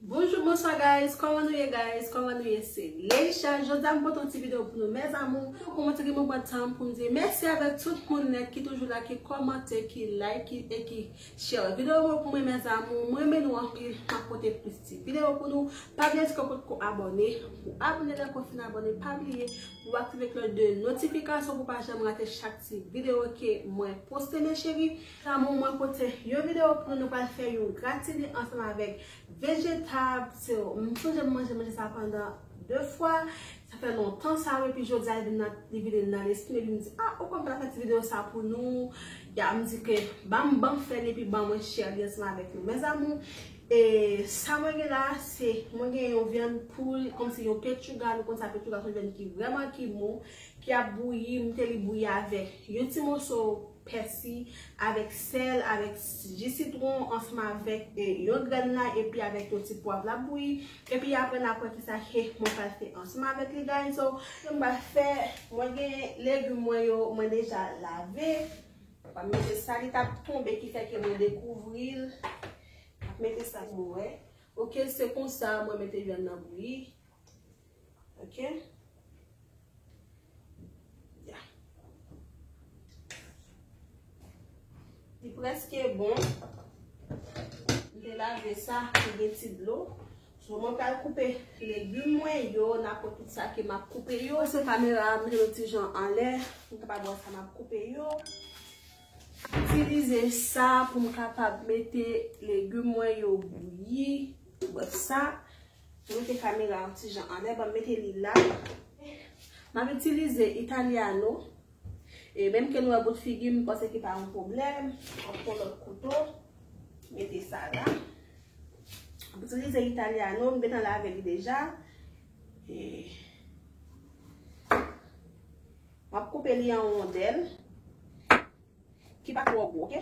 Bonjour bonsoir guys koman nou ye guys koman nou ye se Leisha jodia m pote yon ti video pou nou mes amour pou kòmante ki mwen pran tanm pou m di mèsi avèk tout moun nèt ki toujou la ki kòmante ki like e ki Share video mwen pou mwen mes amour. M renmen nou anpil map pote plis ti video pou nou. Pa bliye si ou potko abone ou abone lè ke ou fin abone pa bliye pou ou aktive klòch de notifikasyon pou ou pa janm rate chak ti video ke mwen poste mes cherie. Mes amour mwen pote yon video pou nou nou pral fè yon gratine ansanm avèk vejetab m sonje m manje manje sa pandan 2 fwa Sa fè lontan sa wi epi jodi a li vin nan li vini nan lespri epi m di ah ou konn m ta fè ti video sa pou nou ya m di ke banm banm fè li epi ban mwen share li ansanm avèk nou mes amours e sa mwen gen la se mwen gen yon vyann poul kòmsi yon pechuga nou konn sa pechuga son vyann ki vrèman ki mou ki ap bouyi m mete li bouyi avèk yon ti moso pèsi, avèk sèl, avèk ji sitwon ansanm avèk yon grèn lay epi avèk yon ti pwav lap bouyi epi aprè na kwè kisa ke mwen pral fè ansanm avèk li guys so sa m pral fè mwen gen legum mwen yo mwen deja lave mwen pral mete sa li tap tonbe ki fè ke mwen dekouvri l mete sa pou mwen wè ok se konsa mwen mete vyann nan bouyi. Ok. Ya. Li preske bon. M te lave sa pou gen ti dlo. So mwen pral koupe legume mwen yo. Na pot tout sa ke m ap koupe yo. Mwen se kamera a mwen yon ti jan anle. M te pa bon sa m ap koupe yo. Itilize sa pou m kapab mete legume mwen yo bouyi. Mwen sa. Mete kamera yon ti jan anlè banm mete li la. Map itilize italiano. E menm ke nou wè bout figi m panse ki pa yon pwoblèm. Mwen pran lòt kouto. Mete sa la. Mwen itilize italiano. M gentan lave li deja. E. Map koupe li an wondèl. Ki pa twò gwo ok.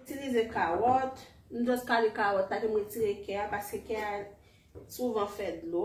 Itilize kawòt, m just kale kawòt la ke m retire kè a paske kè a souvan fè dlo.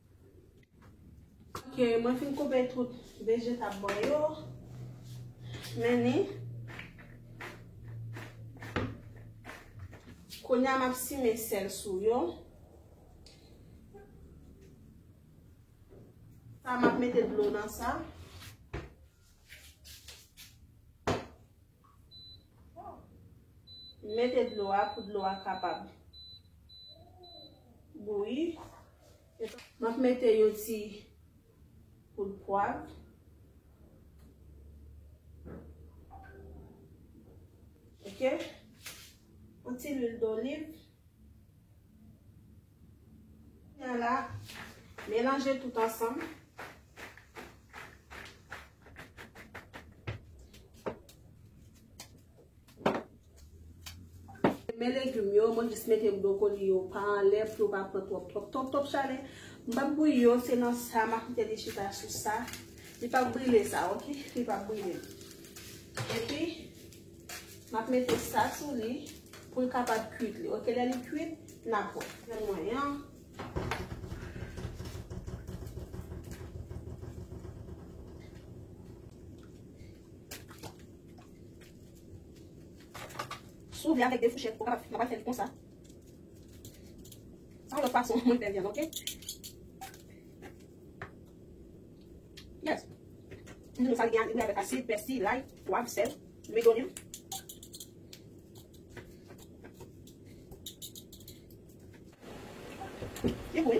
Ok mwen fin koupe tout vejetab mwen yo. Men ni. Kounya m ap simen sèl sou yo. Sa m ap mete dlo nan sa. Mete dlo a pou dlo a kapab bouyi. M ap mete yon ti poud pwav. Ok. Yon ti lwil doliv. Kounya la, melanje tout ansanm. Men legum yo, mwen jis mete brokoli yo pa anlè pou yo pa pran twòp twòp twòp twòp chalè. M pap bouyi yo, se nan sa m ap kite li chita sou sa. Li pap brile sa ok, li pap brile. Epi. Map mete sa sou li pou l kapab kuit li ok lè li kuit nap wè. Fè mwen yon. Sou li avèk de fouchèt pou kapab mwen fè li konsa. Sa yon lòt fason mwen fè vyann ok. Yes. Nou sa gen anime avèk asid, pèsi, lay, pwav, sèl, lwi donim. Li gou wi.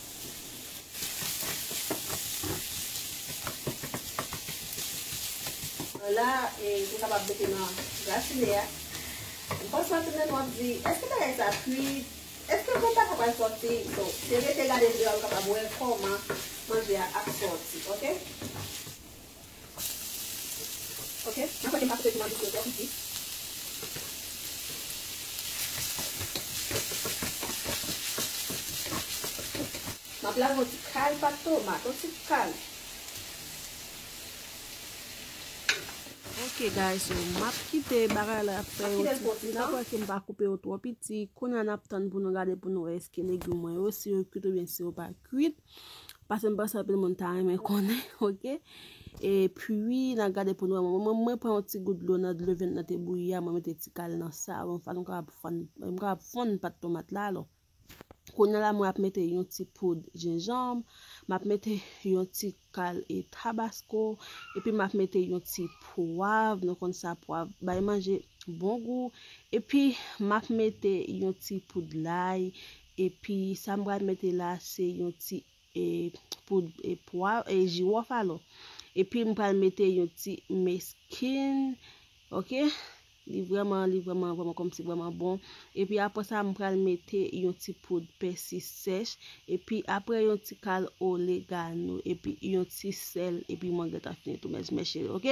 Anna, e pou w kapab mete nan gratine a. M panse w ap tande m wap di, èske bagay sa kuit? Èske bon pata pral sòti? So, se rete gade vyo a ou kapab wè kòman manje a ap sòti. Ok. Ok mwen kwè ke m pa koupe piman douce yo twò piti. M ap lage yon ti kal pat tomat. Yon ti kal. Ok guys so m ap kite bagay la fè yon ti kwi. Nan kwè ke m pa koupe yo twò piti. Kounye a n ap tann pou nou gade pou nou wè eske legume mwen yo si yo kwit oubyen si yo pa kwit. Paske m panse anpil moun ta renmen konnen ok e pwi nan gade pou nou wè mwen mwen pran yon ti gout dlo nan dlo vèt nan te bouyi a mwen mete ti kal nan savon fwa nou kapab fann nou kapab fonn pat tomat la alò kounye la mwen ap mete yon ti poud jenjanm m ap mete yon ti kal e tabasko epi m ap mete yon ti pwav nou konn sa pwav bay manje bon gou epi m ap mete yon ti poud lay Epi sa m pral mete la se yon ti poud pwav e jiwòf alò. Epi m pral mete yon ti meskin ok li vrèman li vrèman vrèman kòmsi vrèman bon. Epi apre sa m pral mete yon ti poud pèsi sèch epi apre yon ti kal olegano epi yon ti sèl epi mwen gentan fini tou mèzmè cheri ok.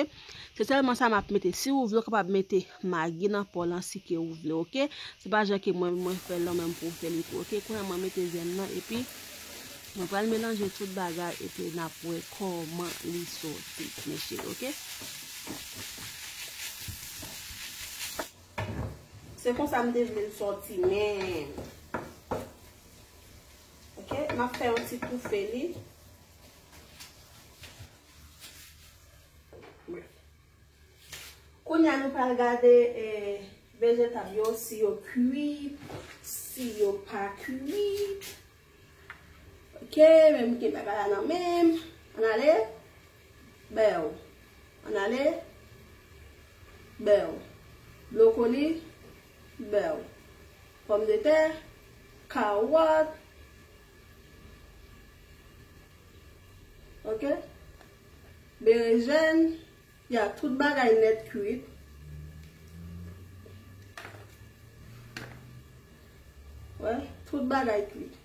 Se selman sa map mete si ou vle ou kapab mete magi nan po lan si ke ou vle ok se pa jan ke mwen mwen fel lan menm pou ou fel li tou ok kounye an mwen mete zen nan epi mwen pral melanje tout bagay epi nap we koman li soti mes cheri ok. Se konsa m te vle l soti menm. Ok, map fè yon ti toufe li. Kounye a nou pral gade vejetab yo si yo kwi, si yo pa kwi. Ok, men mete bagay la nan menm. An ale. Bèw. An ale. Bèw. Blokoli. Bèw. Pòm de tè. Kawòt. Ok Berejèn Ya tout bagay nèt kwit Wè tout bagay kwit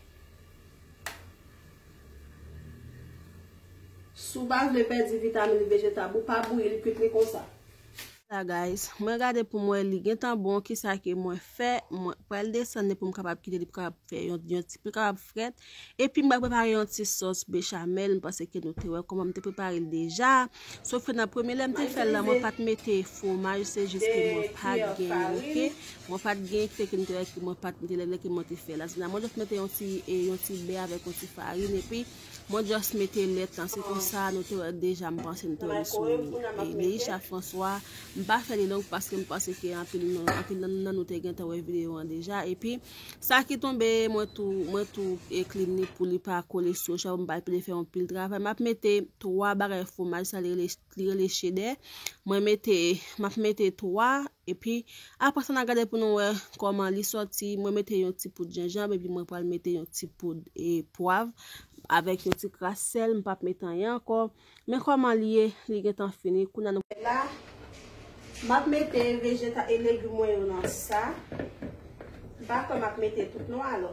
Si w pa vle pèdi vitamin vejetab ou pa bouyi li kwit li konsa. la guys mwen gade poum wè li gentan bon kisa ke mwen fè mwen pral desann li poum kapab kite li pou kapab fè yon yon ti pou kapab frèt epi mwen prepare yon ti sos bechamel m panse ke nou te wè koman m te prepare l deja sof ke nan premye lèm te fèl la mwen pat mete fwomaj se jis ke mwen pat gen ok mwen pat gen kite ke m te wè ke mwen pat mete lè lè ke mwen te fèl la se nan mwen jòs mete yon ti e yon ti bè avèk yon ti farin epi Mwen just mete lèt lan se konsa nou te wè deja m panse nou te wè li sou Neisha François m pa fè li long paske m panse ke anpil nan nou te gentan wè video an deja epi sa ki tonbe mwen tou mwen tou e clean li pou li pa kole sou chè m pa epile fè yon pil travay m ap mete 3 bagay fwomaj sa li rele li rele chedè mwen mete map mete 3 epi apre sa na gade pou nou wè koman li soti mwen mete yon ti poud jenjanb epi mwen pral mete yon ti poud e pwav avèk yon ti kras sèl m pap mete anyen ankò men koman li ye li gentan fini kounya nou la map mete vejeta e legim mwen yo nan sa m pa kwè map mete tout non alò.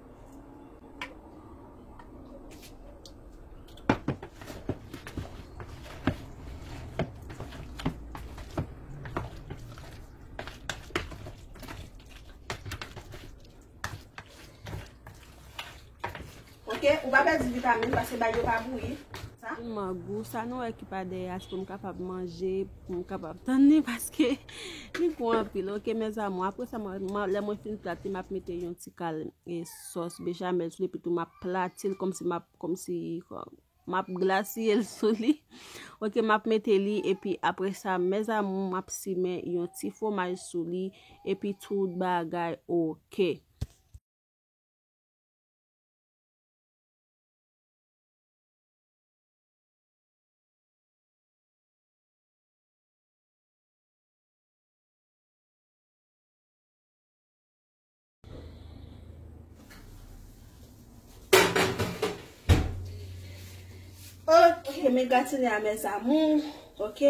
Ok, ou pa pèdi vitamin, pase bay yo pa bouyi. Sa? Ou mangou, sa nou e ki pa de yas pou nou kapab manje. M kapab tann ni paske li gou anpil ok mes amour apre sa lè mwen fin plat li map mete yon ti kal e sos bechamel sou li epi tou map platil komsi map komsi map glasiyel sou li ok map mete li epi apre sa mes amour map simen yon ti fwomaj sou li epi tout bagay ok. Ok, men gratine a mes amour. Ok,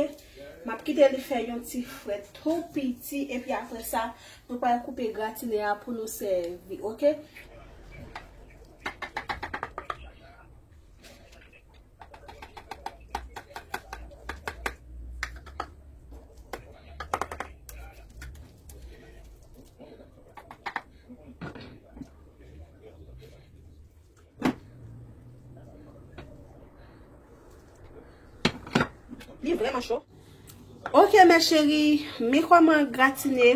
m ap kite li fè yon ti fre tou piti. E pi apre sa, nou pral koupe gratine a pou nou sèvi. Ok. Ok, mè chèri, mè kòman gratine.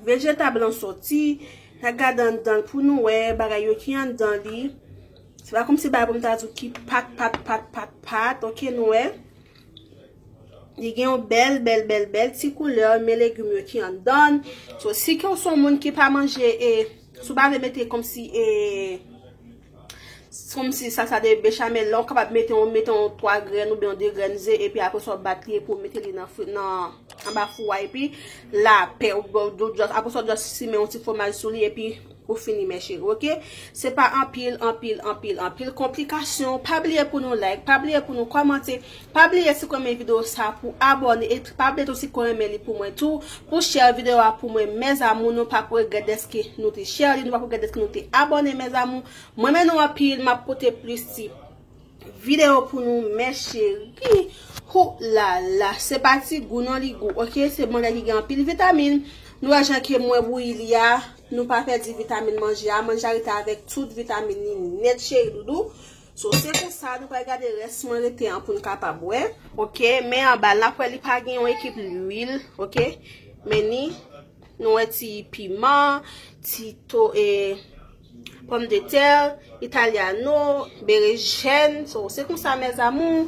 Vejetab lan soti, na gade anndanl pou nou wè bagay yo ki anndan li. Se pa kòmsi bagay pou m ta di w ki pat pat pat pat pat, ok nou wè. Li gen yon bèl bèl bèl bèl ti koulè, men legim yo ki anndann. So si ke w son moun ki pa manje e, si w pa vle mete kòmsi e. Kòm si salsa de bechamel la ou kapab mete yon mete yon 3 grenn oubyen yon 2 grenn ze epi apre sa ou bat li epi ou mete li nan fri nan anba fou a epi la pè ou bò ou jòs apre sa ou jòs simen yon ti fwomaj sou li epi ou fini mè cheri ok se pa anpil anpil anpil anpil konplikasyon pa bliye pou nou like pa bliye pou nou kòmante. Pa bliye si w renmen video sa pou abone et pa bliye tou si ko renmen li pou mwen tou pou share video a pou mwen mes amour nou pap regret deske nou te share li nou pap regret deske nou te abone mes amour mwen renmen nou anpil map pote plis ti video pou nou mes cheri hou lala se pa ti gou non li gou ok se bon bagay ki gen anpil vitamin nou wè jan ke mwen bouyi li a nou pa pèdi vitamin manje a manje a rete avek tout vitamin li net cheri doudou. So se pou sa nou pral gade rès mwen rete an pou n kapab wè. Ok, men anba l, n ap wè li pa gen yon ekip lwil, ok. Men ni, nou wè ti piman, ti to e pòm de tè, italyano, berejèn. So se pou sa mes amour.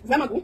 Vèman gou.